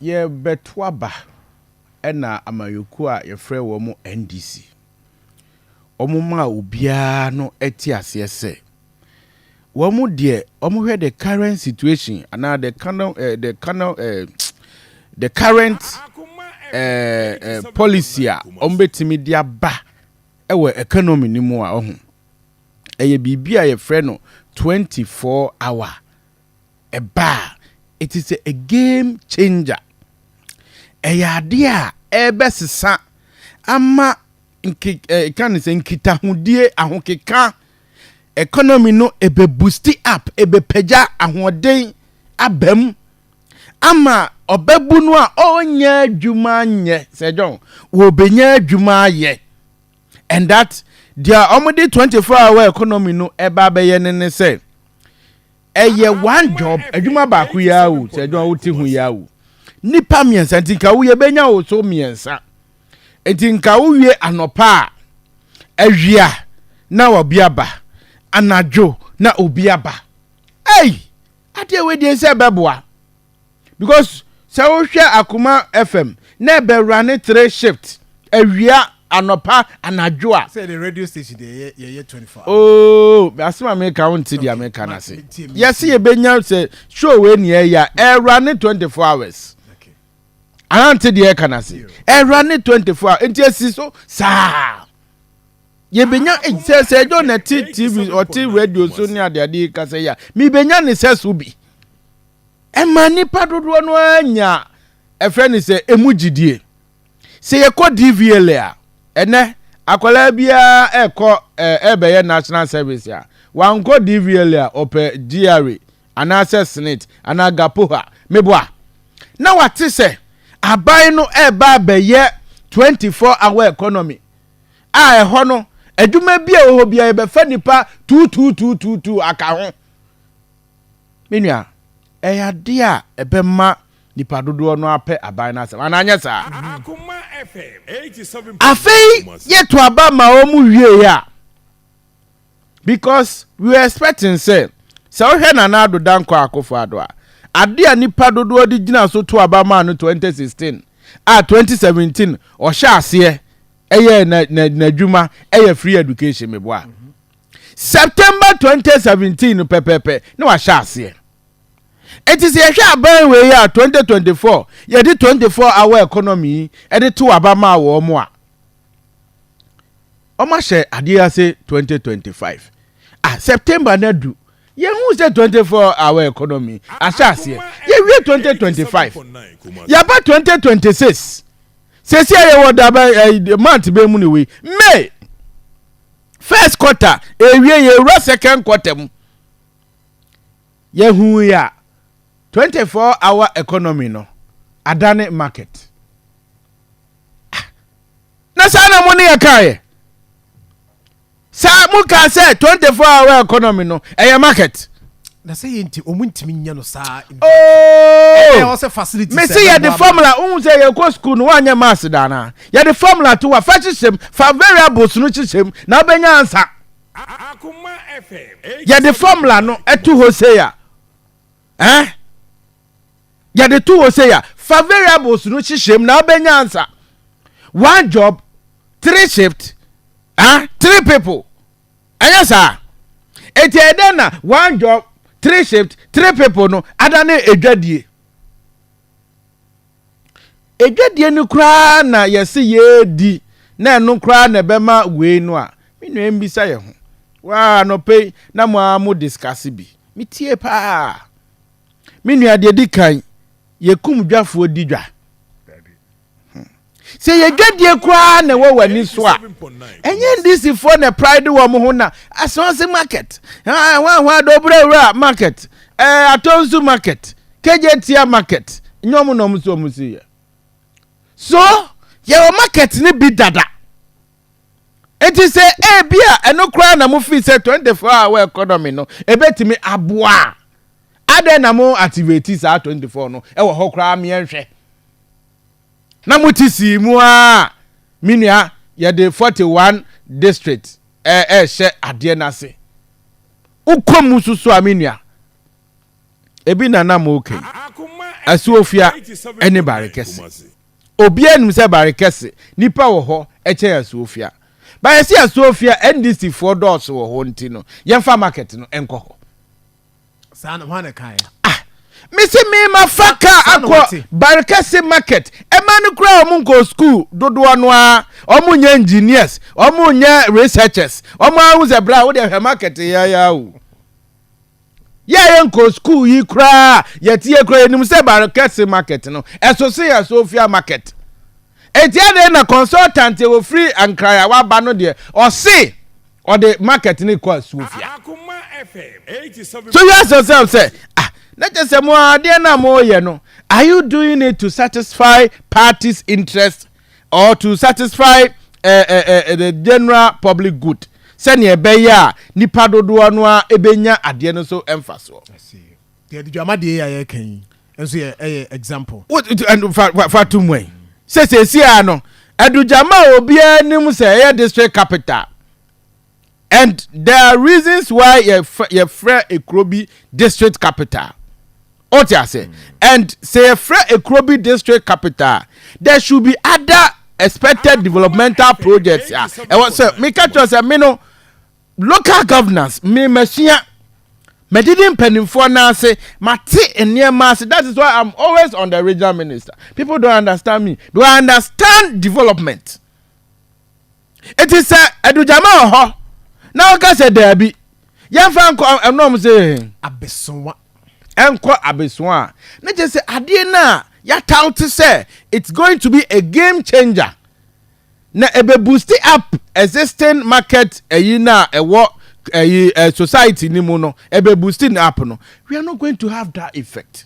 Yɛrebɛto aba na amanyɔkuo a yɛfrɛ wɔn NDC, wɔmaa obiara no te aseɛ sɛ, wɔn deɛ wɔhwɛ the current situation anaa the cano eh, the cano eh, the current eh, eh, policy a wɔbɛtumi de aba wɔ economy no mu a ɔho ɛyɛ biribi a yɛfrɛ no 24 hour ɛba a, it is a game changer. Ɛyɛ adeɛ a ɛbɛsesa ama nke eh, ka ne sɛ nkitahodie ahokeka economy no ebe boosti up ebepagya ahoɔden abam ama ɔbɛbu no a ɔnyɛ adwuma nyɛ sɛ John wɔbɛnya adwuma ayɛ and that deɛ wɔde 24 hour economy no ɛba abɛyɛ ne ne sɛ Ɛyɛ one job, adwuma baako yi ara o, sɛ adwuma wote ho yi ara o. Nnipa mmiɛnsa nti nka wo yɛbɛnya wo so mmiɛnsa. Nti nka wowie anɔpa a, awia na obi aba, anadwo na obi aba. Ei! Adeɛ wei deɛ nsɛ ɛbɛboa. because sɛ wohwɛ akoma fm na ɛbɛwura ne three shift awia anɔpa anadwo a. sɛ the radio station deɛ yɛ yɛyɛ twenty four hours. ooo oh, asem a meka wo nti deɛ meka no ase yɛse yɛbɛnya sɛ show wei ne ɛyɛ ɛwura ne twenty four hours anante deɛ ɛka no ase ɛwura ne twenty four hours nti asi so saa yɛbɛnya eh, sɛ sɛ ɛdɔ na ti tv ɔte radio so ne adeade kasa yi a mebɛnya ne sɛ so bi Ɛmaa nnipa dodoɔ no ara nyaa ɛfrɛ no sɛ ɛmu gyidie. Sɛ yɛkɔ DVLA a, ɛnɛ akwadaa biara ɛrekɔ ɛrebɛyɛ national service a, wankɔ DVLA a ɔpɛ GRA anaasɛ SNIT anaa GAPOHA, meboa? Na wate sɛ aban no ɛreba abɛyɛ 24 hour economy a ɛhɔ no adwuma bi a ɛwɔ hɔ biara yɛbɛfa nnipa tuutuutuutuutuu aka ho. Me nua, ɛyɛ ade a ɛbɛma nnipa dodoɔ no ara apɛ aban no asɛm, anaa anyɛ saa? Afei yɛto aba ma wɔn wieeɛ a, because we were expecting sɛ, sɛ wohwɛ Nana Addo Dankwa Akufo-Addo a, ade a nnipa dodoɔ de gyina so to aba maa no 2016 a 2017 ɔhyɛ aseɛ yɛɛ n'adwuma yɛ free education, meboa? September twenty seventeen no pɛpɛɛpɛ na wahyɛ aseɛ. Eti sɛ yɛhwɛ aban wei yi a twenty twenty four yɛde twenty four hour economy yi ɛde to aba maa wɔn a, wɔn ahyɛ adeɛ ase twenty twenty five. Ah September na du yɛn hu sɛ twenty four hour economy ahyɛ aseɛ yɛwie twenty twenty five yaba twenty twenty six sɛsi a yɛwɔ daba ɛɛ month bɛn mu ne wei May. first quarter ewie yɛwura second quarter mu yɛhu yɛ a 24 hour economy no adane market ah, na saa na mo ne yɛ kaa yɛ saa mo kaa sɛ 24 hour economy no ɛyɛ market na sɛ yɛ nti ɔmu ntumi nyɛ no saa mese yɛde formula wohu sɛ yɛkɔ sukuu no woanyɛ mas daana yɛde formula to wa fa hyehyɛm fa variables no hyehyɛm na wobɛnya ansa yɛde formula no to hɔ sei a eh? yɛde to hɔ sei a fa variables no hyehyɛm na wobɛnya ansa one job three shift eh? three people Anyɛ saa? Enti ɛyɛ dɛn na one job, three shift, three people no adane adwadie? Adwadie no koraa na yɛse yɛredi na ɛno koraa na ɛbɛma wei no a, me nua mbisa yɛ ho. Waa anɔpa yi na mo ara mo discuss bi. Me tie paa. Me nua deɛ di kan, yɛkum dwafoɔ di dwa. Hmm. sɛ yɛ dwadie koraa na ɛwɔ w'ani so a ɛnyɛ ndisifoɔ na pride wɔn ho na asonse market hwanhwa dobrawura market ɛɛ atonsu market kegyetia market nyɛ ɔmo na ɔmo so ɔmo si yɛ so yɛwɔ market ne bi dada. Enti sɛ ebia ɛno koraa na mofii sɛ 24 hour economy no ebetumi aboa a, adɛn na mo activate saa 24 no ɛwɔ hɔ koraa meɛ nhwɛ? Na mote sii mu ara a, me nua yɛde 41 district ɛrehyɛ adeɛ no ase. Wokɔ mu nso so a me nua, ebi na na moka yi, Asuofia ɛne Barekɛse. Obiara nim sɛ Bare kɛse nnipa wɔ hɔ kyɛn Asuofia. Bayɛ sɛ Asuofia NDC foɔ dɔɔso wɔ hɔ nti no yɛmfa market no nkɔ hɔ. Saa no hwan na ɛkaeɛ? Ah! Mese mema fa kaa akɔ Bare kɛse market. Ɛma no koraa wɔn nkɔɔ school dodoɔ no ara. Wɔn nyɛ engineers, wɔn nyɛ researchers. Wɔn ara hu sɛ bra wo deɛ hwɛ market yɛayɛ awu. Yɛa yɛ nkɔ school yi koraa yɛteɛ koraa yɛnim sɛ Barekɛse market no ɛso sen Asofia market enti adɛn na consultant ɛwɔ firi Ankraya waba no deɛ ɔse ɔde market no kɔ Asofia So you ask yourself sɛ ah na kyɛ sɛ mo adeɛ no a moyɛ no are you doing it to satisfy party's interest or to satisfy eh, eh, eh, the general public good sɛnea ɛbɛyɛ a nipa dodoɔ no a ɛbɛnya adeɛ no so mfasoɔ yɛde dwamadeɛ yɛ a yɛka yi nso yɛ ɛyɛ example fa to mu ɛ sɛ sɛsi a no adugyama a obiara nim sɛ ɛyɛ district capital And there are reasons why yɛfrɛ ekuro bi district capital. O ti ase. Mm. And sɛ yɛfrɛ ekuro bi district capital, there should be other expected developmental projects. Ah, ɛwɔ sɛ meka kyerɛ sɛ me no local governance me masua medidi mpanimfoɔ no ase mate nneɛma ase that is why i'm always on the regional minister people don't understand me do i understand development Enti sɛ adugyama wɔ hɔ na ɔka sɛ daabi, yɛmfa nkɔ ɛnɔm sɛ abesoa. Ɛnkɔ abesoa a, ne kyerɛ sɛ adeɛ no a yɛataw te sɛ it's going to be a game changer na ɛbɛ boost up existing market ɛyi no a ɛwɔ ɛyi society no mu no ɛbɛ boost no up no, we are not going to have that effect.